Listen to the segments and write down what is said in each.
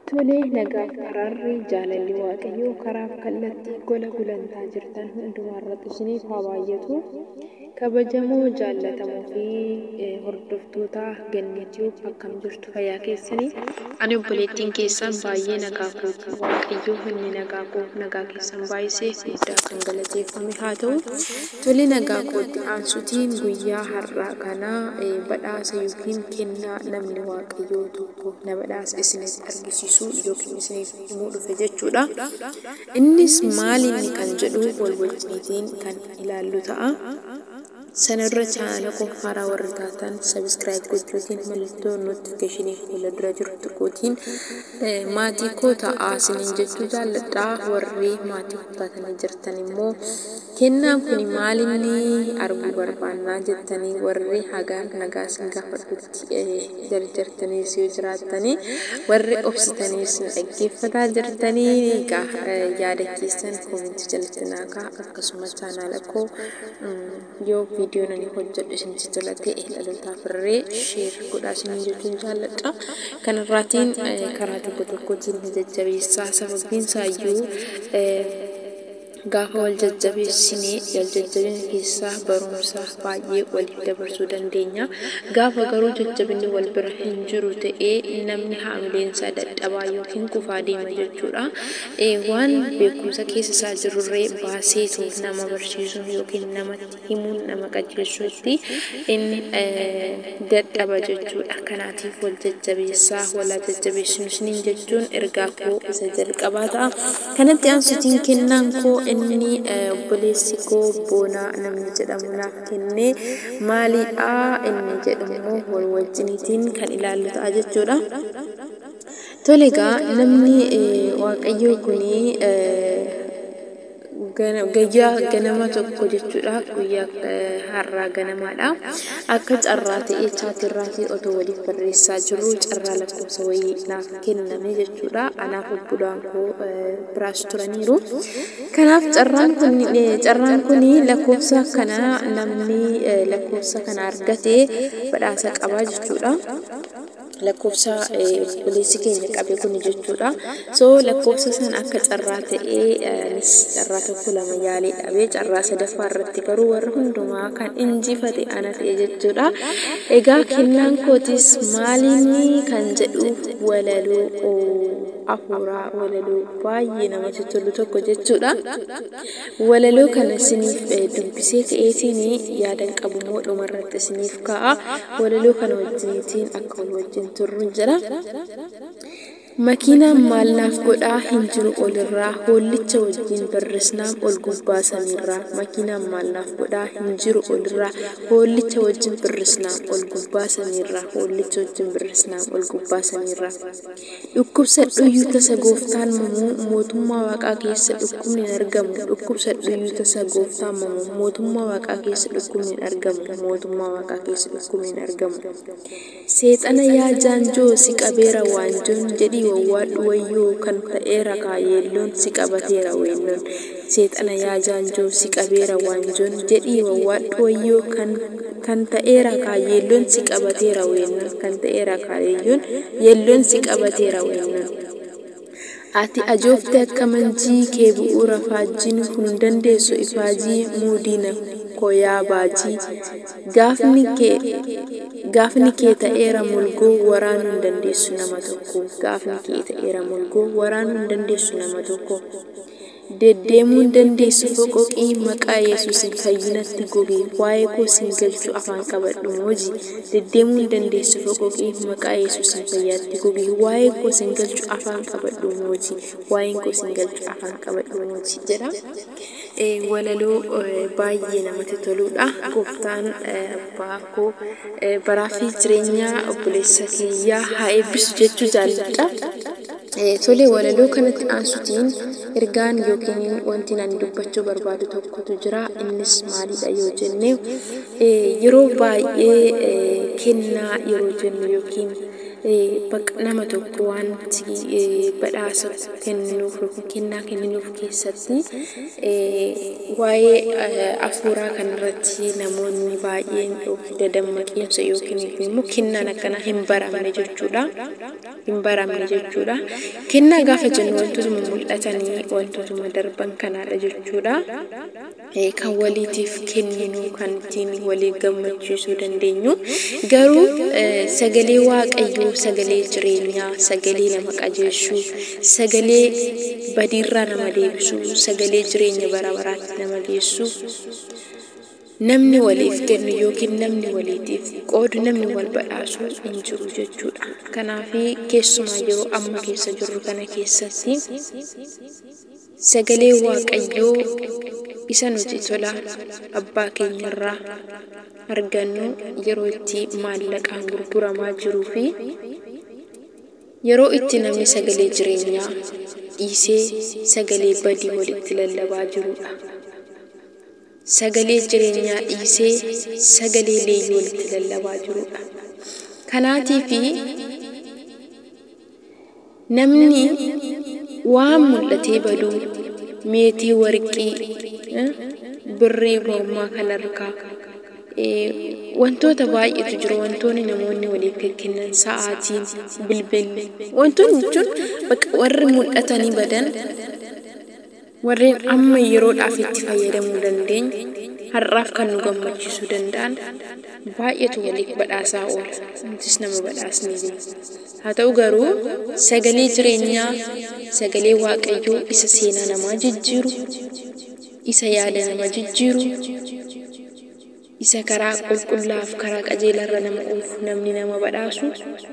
Tole, nagaaf araarri, jaalalli Waaqayyoo karaaf kallattii gola gulantaa jirtan hundumaarratti isiniif haa baay'atu. Kabajamoo, jaallatamoo fi hordoftoota Gannee Tube akkam jirtu fayyaa keessanii? Ani obboleettiin keessan baay'ee nagaa kooti. Waaqayyo inni nagaa koo nagaa keessan baay'isee guddaa kan galateeffame haa ta'u. Tole nagaa kootti aansutiin guyyaa har'aa kana badhaasa yookiin kennaa namni Waaqayyoo tokko tokko na badhaase isinitti argisiisuu yookiin isiniif himuu dhufe jechuu dha. Innis maal inni kan jedhu wal wajjiitiin kan ilaallu ta'a. Sana dura chaanaala koof haaraa warri taatan subscribe gochuutiin mallattoo notification fuula dura jiru tuquutiin maatii koo ta'aa isiniin jechuu jaalladha. Warri maatii koo taatanii jirtan immoo kennaan kuni maal inni arguu barbaannaa jettanii warri hagaan nagaa isin gaafadhu. tti jarjartaniis yoo jiraattanii warri obsitaniis na dhaggeeffataa jirtanii egaa yaada keessan koomentii jalatti naa kaa akkasuma chaanaala koo yoo viidiyoon ani hojjedhu isinitti tola ta'e dhalootaaf irree sheer godhaa isiniin jechuun jaalladha kanarraatiin karaa tokko tokkotiin na jajjabeessaa sababiin isaayyuu Gaafa wal jajjabeessine, wal jajjabina keessaa barumsa baay'ee waliif dabarsuu dandeenya. Gaafa garuu jajjabinni wal bira hin jiru ta'e, namni haamileen isaa dadhabaa yookiin kufaa deema jechuudha. Waan beekumsa keessa isaa jirurree baaseetu nama barsiisuu yookiin namatti himuun nama qajeelchuutti inni dadhaba jechuudha. Kanaatiif wal jajjabeessaa walaa jajjabeessinu isiniin jechuun ergaa koo isa jalqabaa ta'a. Kanatti aansutiin kennaan koo inni obboleessi koo boonaa namni jedhamu naaf kenne maaliidha inni jedhu immoo wal wajjiniitiin kan ilaallu ta'a jechuudha. Tole egaa namni waaqayyoo kun Gayyaa ganama tokko jechuudha guyyaa har'aa ganamaadha. Akka carraa ta'ee chaatii irraatii otoo waliif barreessaa jirru carraa lakkoofsa wayii naaf kenname jechuudha. Anaaf obbolaan koo biraas turaniiru. Kanaaf carraan kun carraan kun lakkoofsa kana namni lakkoofsa kana argate badhaasa qabaa jechuudha. lakkoofsa obboleessi keenya qabe kun jechuudha. So lakkoofsa san akka carraa ta'ee anis carraa tokko lama yaalee dhabe carraa sadaffaa irratti garuu warra hundumaa kan injifate ana ta'e jechuudha. Egaa kennaan kootis maalinni kan jedhu walaloo afuuraa walaloo baay'ee namatti tolu tokko jechuudha. Walaloo kana isiniif dubbisee ka'eetiin yaadan qabumoo dhumarratti isiniif kaa'a. Walaloo kana wajjiniitiin akka wal wajjin turrun jedha. Makiinaan maal naaf godhaa hin jiru olirraa hoollicha wajjin birrisnaam ol gubbaa samiirraa. Makiinaan maal naaf godhaa hin jiru olirraa hoollicha wajjin birrisnaam ol gubbaa samiirraa hoollicha wajjin birrisnaam ol gubbaa samiirraa. Dhukkubsadhuyyuu tasa Gooftaan mamu Mootummaa Waaqaa keessa dhukkubni hin argamu Dhukkubsadhuyyuu tasa Gooftaan mamu Mootummaa Waaqaa keessa dhukkubni hin argamu Mootummaa Waaqaa keessa dhukkubni hin argamu Seexana yaa jaanjoo si qabeera waanjoon Jedhii wawwaadhu wayyoo kan ta'eera kaa yeelloon Si qabateera weennoon Seexana yaa jaanjoo si qabeera waanjoon jedhii wawwaadhu wayyoo kan kan ta'eera kaa yeelloon si qabateera weennoon kan ta'eera kaa yeeyyoon yeelloon si qabateera weennoon. Ati ajoofte akka manjii kee bu'uura faajjiin kun hin dandeessu ifaajii muu diina koo yaa baajii gaafni kee gaafni kee ta'eera molgoo waraanuu hin dandeessu nama tokko gaafni kee ta'eera molgoo waraanuu hin dandeessu nama tokko. Deddeemuu hin dandeessu foqoqii maqaa yesuusin fayyinatti goge waa'ee koo sin galchu afaan qabadhu mooji Deddeemuu hin dandeessu foqoqii maqaa yesuusin fayyaatti goge waa'ee koo sin galchu afaan qabadhu mooji waa'een koo sin galchu afaan qabadhu mooji jedha walaloo baay'ee namatti toluudha gooftaan abbaa koo baraa fi jireenyaa obboleessa kiyyaa haa eebbisu jechuu jaalladha. Tole, walaloo kanatti aansutiin ergaan yookiin wantiin ani dubbachuu barbaadu tokkotu jira. Innis maalidha yoo jenne, yeroo baay'ee kennaa yeroo jennu yookiin bakka nama tokko wanti badhaasa kenninuuf yookiin kennaa kenninuuf keessatti waa'ee afuuraa kanarratti namoonni baay'een dadammaqiinsa yookiin immoo kennaan akkanaa hin baramne jechuudha. hin baramne jechuudha. Kennaa gaafa jennu wantootuma mul'atanii wantootuma darban kanaadha jechuudha. Kan waliitiif kenninu kan ittiin walii gammachiisuu dandeenyu garuu sagalee waaqayyoo sagalee jireenyaa sagalee nama qajeelchuu sagalee badiirraa nama deebisuu sagalee jireenya bara baraatti nama geessu Namni waliif kennu ykn namni waliitiif qoodu, namni wal badhaasu hin jiru jechuudha. Kanaafi, keessumaa yeroo amma keessa jirru kana keessatti sagalee Waaqayyoo isa nuti tola abbaa keenyarraa argannu yeroo itti maallaqaan gurguramaa jiruu fi yeroo itti namni sagalee jireenyaa dhiisee sagalee badii walitti lallabaa jiruudha. Sagalee jireenyaa dhiisee sagalee leeyyoon itti lallabaa jiruudha. Kanaatiifi namni waan mul'atee badu meetii warqii, birrii mormaa kan harkaa, wantoota baay'eetu jiru wantoonni namoonni waliif kekkennan sa'aatiin, bilbilli wantoonni jechuun bakka warri mul'atanii badan. Warreen amma yeroodhaaf itti fayyadamuu dandeenyu, har'aaf kan nu gammachiisuu danda'an baay'eetu waliif badhaasaa oola, nutis nama badhaasnee beekna. Haa ta'u garuu, sagalee jireenyaa, sagalee Waaqayyoo isa seenaa namaa jijjiiru, isa yaada nama jijjiiru, Isa karaa qulqullaa'aaf karaa qajeelaarra nama oofu namni nama badhaasu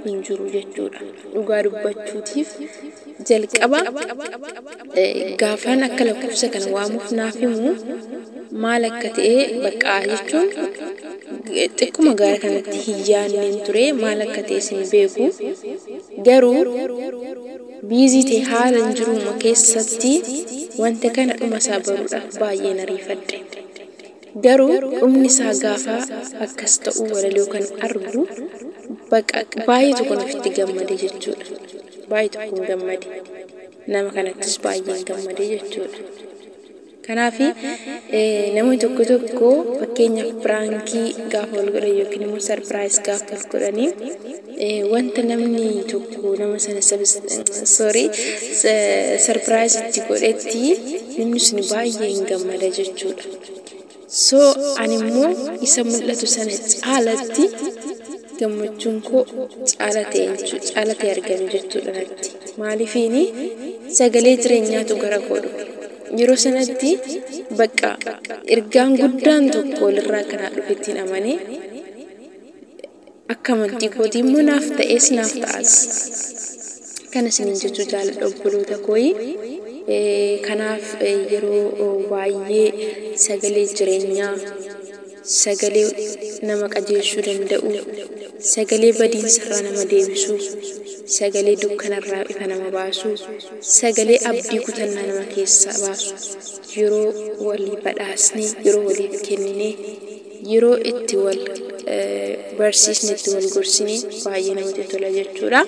hin jiru jechuudha. Dhugaa dubbachuutiif jalqaba gaafaan akka lakkoofsa kana waamuuf naaf himu maal akka ta'e baqqaa jechuun xiqquma gaara kanatti hin yaadneen ture maal akka ta'e sin beeku garuu biizii ta'e haala hin jiruuma keessatti wanta kana dhuma isaa baruudhaaf baay'een ariifadhe. Garuu dhumni isaa gaafa akkas ta'uu walaloo kan argu baqa baay'ee tokkon ofitti gammade jechuudha. Baay'ee tokkon gammade. Nama kanattis baay'een gammade jechuudha. Kanaaf namoonni tokko tokko fakkeenyaaf piraankii gaafa wal godhan yookiin immoo sarpiraayis gaafa wal godhanii Wanta namni tokko nama sana sorry surprise itti godhetti namni sun baay'ee hin gammada jechuudha. So ani immoo isa mul'atu sana caalatti gammachuun koo caala ta'e jechuudha. Caala ta'e argame jechuudha natti. Maaliifiini sagalee jireenyaatu gara koo dhufe. Yeroo sanatti bakka ergaan guddaan tokko walirraa kanaa dhufettiin amanee Akka amantii kootii immoo naaf ta'ees naaf ta'as. Kana isiniin jechuu jaaladha obboloota kooyi. Kanaaf yeroo baay'ee sagalee jireenyaa, sagalee nama qajeelchuu danda'u, sagalee badiinsarraa nama deebisu, sagalee dukkanarraa ifa nama baasu, sagalee abdii kutannaa nama keessaa baasu yeroo walii badhaasnee, yeroo waliif kenninee, yeroo itti wal barsiisne itti wal gorsine baay'ee namatti tola jechuudha.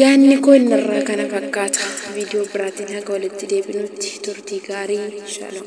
Yaanni koo inni irraa kana fakkaata. Viidiyoo biraatiin haga walitti deebinutti turtii gaarii. Shalom.